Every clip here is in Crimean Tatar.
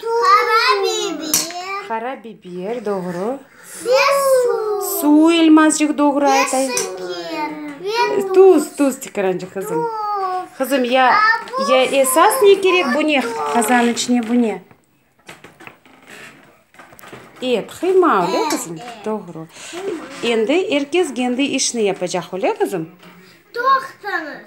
Qara biber. Qara biber, doğru. Ve su. Su, elmazcıq, doğru aytay. Ve şeker. Ve tuz. Tuz, tuz, tikrancıq, qızım. Tuz. Qızım, ya, ya esas ne kerek, bu ne, qazan içine bu ne? Et, qıyma, öyle qızım? Evet, evet. Doğru. Qıyma. Endi er kes kendi işini yapacaq, öyle qızım? Toqtınız.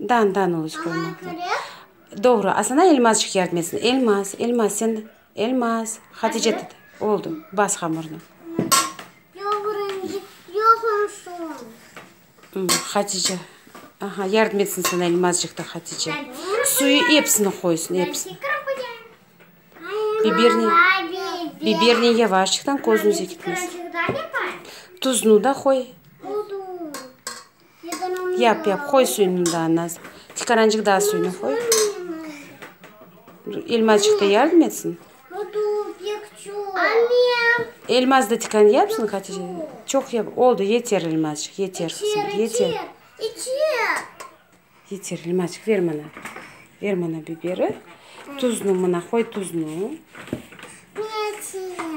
Dan, dan uluç qoymaq lazım. Doğru, asana Elmazçıq yardım etsin. Elmaz, Elmaz, sen, Elmaz, Hatice tut. Oldu, bas hamurnı. Hatice, aha, yardım etsin sana Elmazçıq da Hatice. Suyu epsini qoysın, epsini. Biberni, biberni yavaşçıqtan, közünüze ketmesin. Tuzunu da qoy. Yap, yap, qoy suyunı daa nas. Tikarancıq daa suyunı qoy. Elmaçıq da yardım etsin. Elmaz da tikan yapsın Hatice. Çoq yap, oldu, yeter Elmazçıq, yeter qızım, yeter. Yeter Elmazçıq, ver mana. Ver mana biberi. Tuznı mına qoy, tuznı.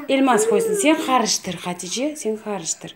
Elmaz qoysın, sen qarıştır, Hatice, sen qarıştır.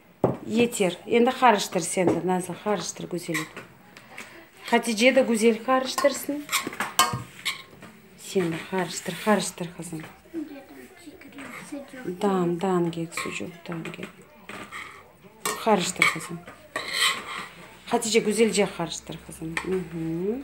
Yeter, endi qarıştır sen de, Nazlı, qarıştır güzelep. Hatice de güzel qarıştırsın. Sen de qarıştır, qarıştır, qızım. Dan, dan kek, sucuq, dan kek. Qarıştır, qızım. Hatice, güzelce qarıştır, qızım. Hı -hı.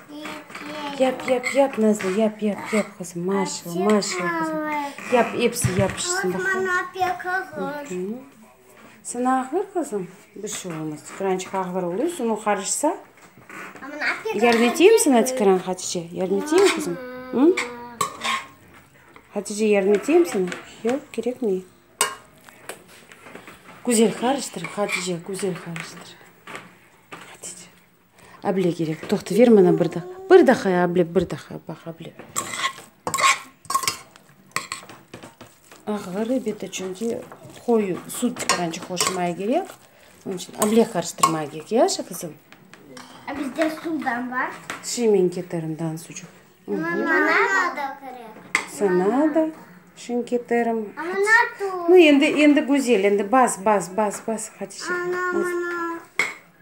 Yap, yap, yap, Nazlı, yap, yap, yap, qızım, maşallah, maşallah, qızım. Yap, episi yapışsın, bakalım. Sana ağır, qızım? Bir şey olmaz, tikrançıq ağır oluyor, sunuv qarışsa. Yardım eteyim sana, tikran, Hatice? Yardım eteyim, qızım? Hatice, yardım eteyim sana? Yoq, kerekmey. Güzel qarıştır, Hatice, güzel qarıştır. Able kerek, toqta, ver mana bir daa, bir daha ya, able, bir daha, baq, able. Ağır elbette, çünki qoyu sud çıqaranca qoşmaya kerek, onıñ içün able qarıştırmaya kerek, yaşı, qızım? A bizde sudan bar. Şemen keterimdan sucuq. Sana da şemen keterim. Endi, endi, Güzel, endi bas, bas, bas, bas, Hatice.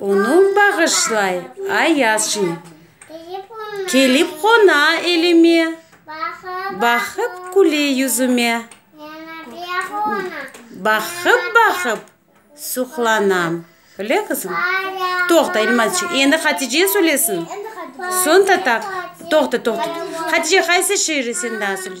Onı bağışlay, ayazcım. Kelip qona elime. Baqıp küle yüzüme. Baqıp-baqıp suqlanam. Öyle qızım? Toqta, İlmazçıq, endi Hatice söylesin. Soñ Tatar. Toqta, toqta. Hatice, qaysı şiiri sen daa söyle.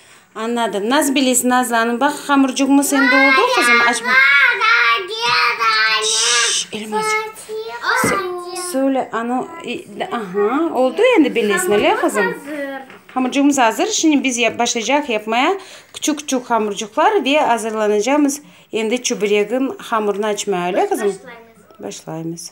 Anladım. Nasıl bilesiz nazlanıp? Baq, hamurcuğımız endi oldu qızım. Aç bak. Şşş, Elmacık. Söyle, anı, aha, oldu endi bilesini, öyle qızım? Hamurcuğımız azır. Şimdi biz başlayacaq yapmaya. Küçük küçük hamurcuqlar ve azırlanacağımız endi çuburegin hamurını açmaya, öyle qızım? Başlaymız. Başlaymız.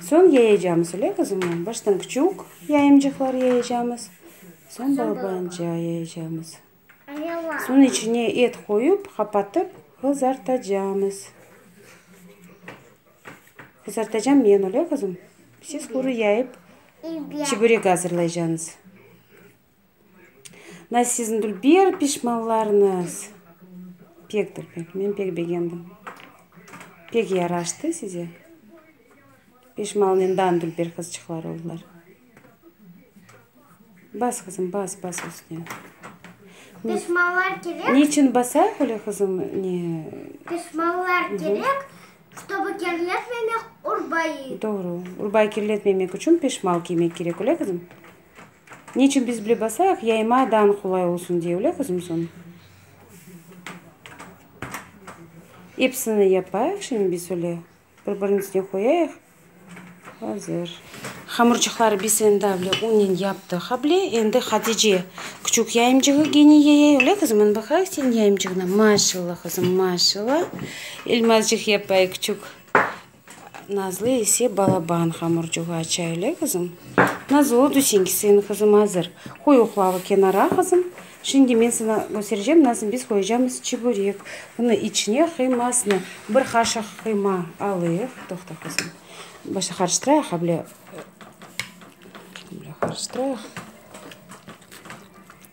Soñ yayacamız, öyle qızım? Baştan küçük yayımcıqlar yayacamız, soñ balabanca yayacamız. Soñ içine et qoyup, qapatıp qızartacamız. Qızartacam men, öyle qızım? Siz quru yayıp, çiberek azırlaycañız. Da sizndur bir pişmanlarnız. Pektir pek, men pek begendim. Pek yaraştı size. Pişmalnen dandur bir qızçıqlar oldılar. Bas, qızım, bas, bas üstüne. Pişmanlar kerek. Niçin basayıq öyle qızım? Ne? Pişmanlar kerek, ştobu kirletmemek urbayı. Doğru. Urbayı kirletmemek içün pişmal kiymek kerek, öyle qızım? Neçün biz bile basayıq, yayma dan qolay olsun diye, öyle qızım? Soñ episini yapayıq şimdi biz öyle, bir biriniñ üstüne qoyayıq. Azır. Hamurçıqları biz endi avle unnen yaptıq avle, endi Hatice küçük yayımcığı gene yayay, öyle qızım? Ana baqayıq seniñ yayımcığına. Maşallah, qızım, maşallah. Elmazcıq yapay küçük Nazlı ise balaban hamurcuğa çaylı, qızım. Nazlı, oldu, señki suyun qızım azır. Qoy oqlavı kenara, qızım. Şimdi men saña köstereceğim, nasıl biz qoyacamız çiburek. Bunı içine qıymasını, bir qaşıq qıyma alayıq. Toqta, qızım. Başta qarıştırayıq, able qarıştırayıq.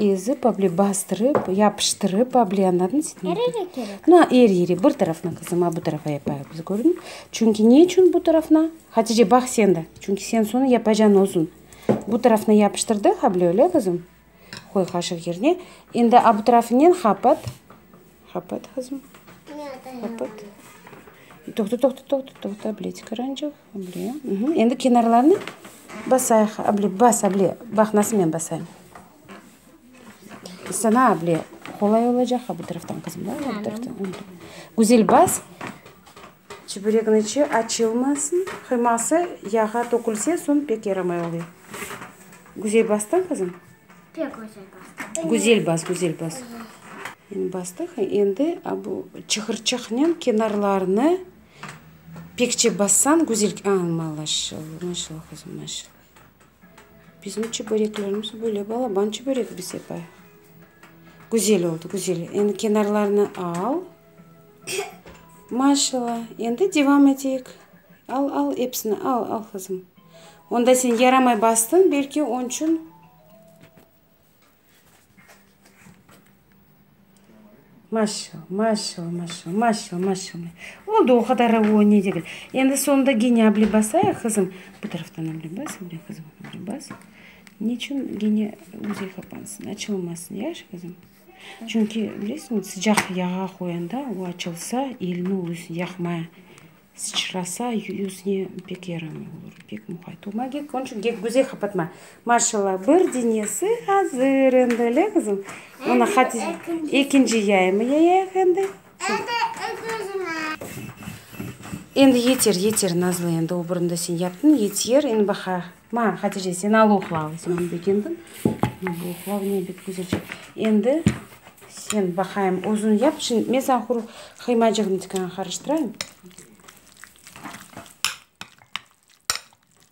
Ezip able bastırıp yapıştırıp able anladınız mı? Eri eri kerek. Na eri eri bir tarafına qızım a bu tarafa yapayıq biz kördiñ çünki ne içün bu tarafına Hatice baq sen de çünki sen sonı yapacan özün bu tarafına yapıştırdıq able öyle qızım qoy qaşıq yerine endi a bu tarafınen qapat Qapat, qızım, qapat. Toqta, toqta, toqta, toqta, able, çıqarançıq, able. Endi kenarlarını basayıq, able, bas, able. Baq, nasıl men basayım. Sana, able, qolay olacaq, ha, bu taraftan, qızım, da, bu taraftan. Güzel bas, çeperekniñ içi açılmasın, qıyması yağa tökülse, soñ pek yaramay oluyor. Güzel bastın, qızım? Pek güzel bastı. Güzel bas, güzel bas. Endi bastıq. Endi a bu çıqırçaqnen kenarlarını pekçe bassañ güzel. A, malaşallah, maşallah, qızım, maşallah. Bizim çöböreklerimiz böyle, balaban çöbörek bize baya. Güzel oldı, güzel. Endi kenarlarını al. Maşalla, endi devam eteyik. Al, al, epsini al, al, qızım. Onda sen yaramay bastıñ, belki on çün. Maşalla, maşalla, maşalla, maşalla, maşalla. Oldu, o kadar o ne degil. Endi sonunda gene abli basayıq, qızım. Bu taraftan abli bas, abli, qızım, abli bas. Ne çün gene müzey kapansın, açılmasın, yaşı, qızım? Çünki, bilesiñiz, sıcaq yağa qoyanda, o açılsa, elini özü yaqmay, sıçrasa, yüzüne pek yaramay olur, pek muqayt olma kerek. Onıñ içün gek göze qapatma. Maşallah, bir denesi azır endi, le qızım? Ekinci yayımı yayayıq endi. Endi yeter, yeter, Nazlı, endi obrında sen yaptın, yeter, endi baqa. Ma, Hatice, sen al uqla, Osman bek endi, ma, bu uqlav ne bek güzelce. Endi sen baqayım, özün yap, şind, men sañ quruq qıymacığını tikan qarıştırayım.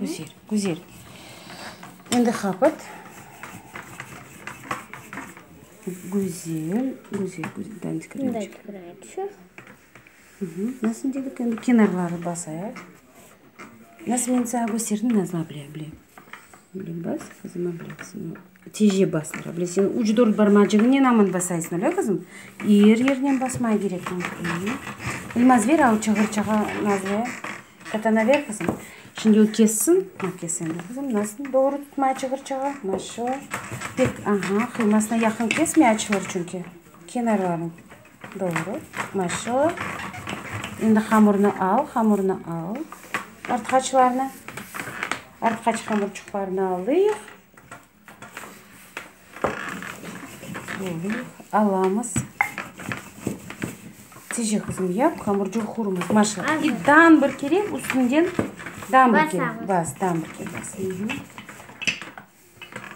Güzel, güzel. Endi hapat. Güzel, güzel, güzel. Dandik kremçik. Nasıl dedik endi kenarları basayıq. Nasıl men saña kösterdim, Nazlı abla, bile. Bile bas, qızım, bile. Tece bas, bile. Sen üç, dört barmacığınen aman basaysın, öyle, qızım? Er yerinen basmay kerekmiñ. Elmaz, ver, al, çığır, çağa, Nazlı. Ete naber, qızım? Şimdi o kessin. Aa, kes endi, qızım, nasıl doğru tutmaya çıgırçağa. Maşo. Pek, aha, qıymasına yaqın kesmey, açılır çünki. Kenarlarını. Doğru. Maşo. Endi hamurını al, hamurını al. Artqaçlarını. Artqaç hamurçıqlarını alıyıq. Böyle alamız. Tice qızım yap, hamurcığı qurumaz. Maşa, ilk dambır kerek, üstünden dambır kerek. Bas, dambır kerek. Bas.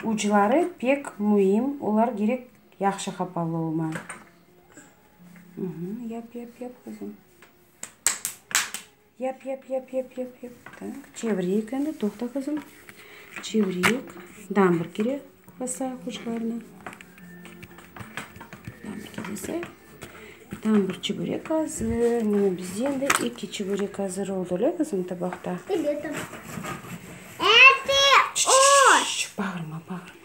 Ucları pek müim, olar gerek yahşı qapalı olma. Yap, yap, yap, qızım. Yap, yap, yap, yap, yap, yap. Tak, çevireyik endi. Toqta, qızım. Çevireyik. Damır kire basayıq uçlarına. Damır kire basayıq. Tam bir çübürek hazır. Mına bizde endi eki çübürek hazır oldı, öyle kızım, tabaqta? Biletim. Etti, o! Bağırma, bağırma.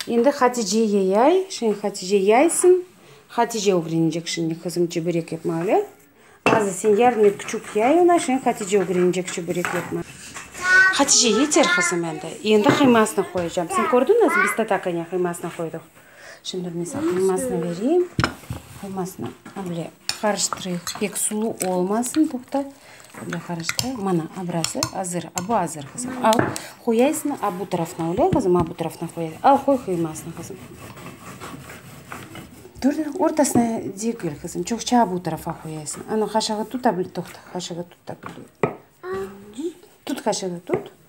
Endi Hatice yeyay. Şimdi Hatice yaysın. Hatice ögrenecek şimdi qızım çeburek yapmağlı. Azı sen yardım et, küçük yay ona. Şimdi Hatice ögrenecek çeburek yapmağlı. Hatice, yeter qızım endi. Endi qıymasını qoyacağım. Sen kördün özüñ, biz tatakanya qıymasını qoydıq. Şimdi bir misal, qıymasını bereyim. Qıymasını avle qarıştırayıq. Pek sulu olmasın, toqta. Avle qarıştırayıq. Mana, abrası azır. A bu azır, qızım. Al, qoyaysıñ a bu tarafına, avle, qızım, a bu tarafına qoy. Al, qoy qıymasını, qızım. Kördiñ, ortasına degil, qızım. Çoqça a bu tarafa qoyaysıñ. Ana, qaşığı tut, avle, toqta, qaşığı tut, avle. Tut, qaşığı tut.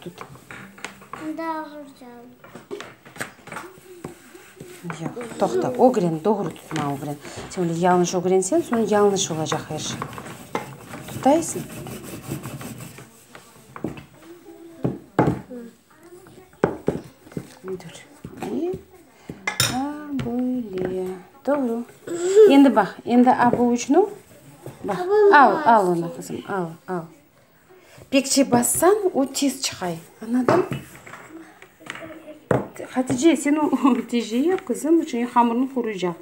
Tut. Anda ağır can. Yoq, toqta, ögren, doğru tutma ögren. Sen böyle yalnış ögrensen, soñ yalnış olacaq her şey. Tutaysıñ? Dur. Ve a böyle. Doğru. Endi baq, endi a bu üçnü baq. Al, al onu, qızım, al, al. Pekçe bassañ, o tez çıqay. Anladın? Hatice, sen o teceye yap, qızım, çünki hamırnı quruycaq.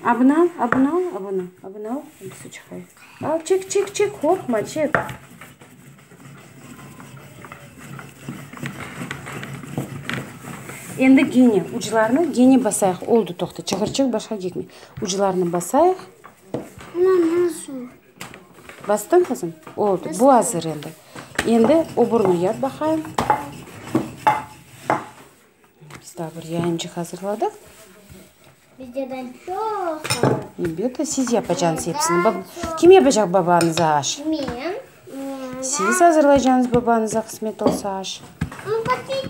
Abına al, abına al, abına, abına al, su çıqay. Al, çek, çek, çek, qorqma, çek. Endi gene uclarını gene basayıq. Oldu, toqta, çıqırçıq başqa kekmey. Uclarını basayıq. Ana, nasıl? Bastıñ qızım? Oldı, bu azır endi. Endi oburını yap baqayım. Biz daha bir yayıncıq azırladıq. Bizden çoq qaldı. Elbette, siz yapacaqsınız hepsini. Bab- Kim yapacaq babañıza aş? Men. Siz azırlaycaqsınız babañıza qısmet olsa aş. Onu paketsiz.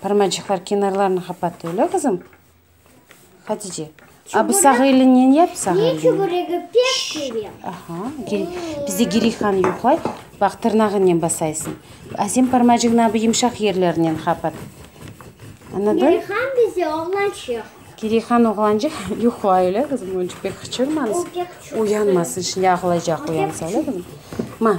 Parmacıqlar kenarlarını qapat öyle qızım. Hatice. A bu sağ elinnen yap sağ elinnen. Ne çuburegi pek sevem. Aha. Bizde girihan yoqlay. Bak tırnağınen basaysın. A sen parmacığını abi yımşaq yerlerinen qapat. Anladın? Girihan bizde oğlançıq. Girihan oğlançıq yoqlay öyle qızım. Onca pek qıçırmanız. Uyanmasın şimdi ağlayacaq uyansa öyle qızım. Ma.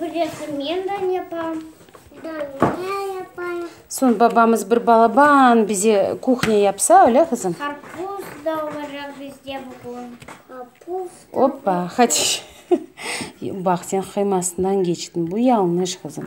Bilesiñ, men de yapam. Daniya yapayım. Soñ babamız bir balaban bize kuhnya yapsa, öyle, qızım? Qarpuz da olacaq bizde bugün. Qarpuz. Oppa, hadi. Baq, sen qıymasından keçtin. Bu yañlış, qızım.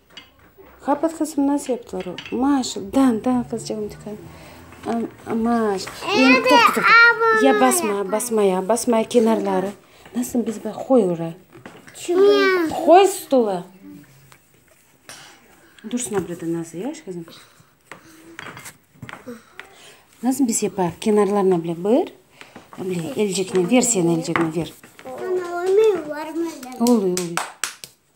Qapat qızım, nasıl yaptılar o? Maaş, dan, dan qızcığım tıkan. Maaş. Ya basma, basma ya, basma ya kenarları. Nasıl biz bak, qoy oraya. Qoy stula. Dursun abrada nasıl ya kızım? Nasıl biz yapar? Kenarlarına bile bir. Bile elcikini ver sen elcikini ver. Oluyor, oluyor.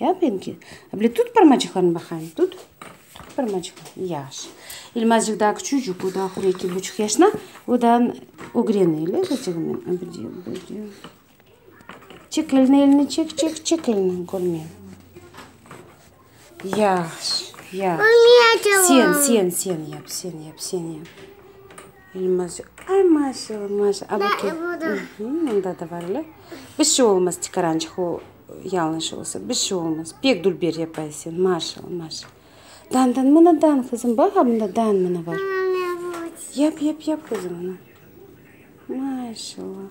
Ya ben ki. Abile tut parmacıqlarını baqayım, tut. Tut parmacıqlarını. Yaşı. İlmazcıq daa küçücik, o da ahur eki buçuq yaşına, o da ögrene ele. Çek elini, elini çek, çek, çek elini, körmeyim. Yaşı, yaşı. Sen, sen, sen yap, sen yap, sen yap. Elmaz, ay maşallah, maşallah. Da, e, bu da. Mında da bar ele. Bir şey olmaz, çıqarançıq o, yalnış olsa, bir şey olmaz. Pek dülber yapay sen, maşallah, maşallah. Dan, dan, mına dan, qızım, bax, a, mında dan mına bar. Yap, yap, yap, qızım, mına. Maşallah.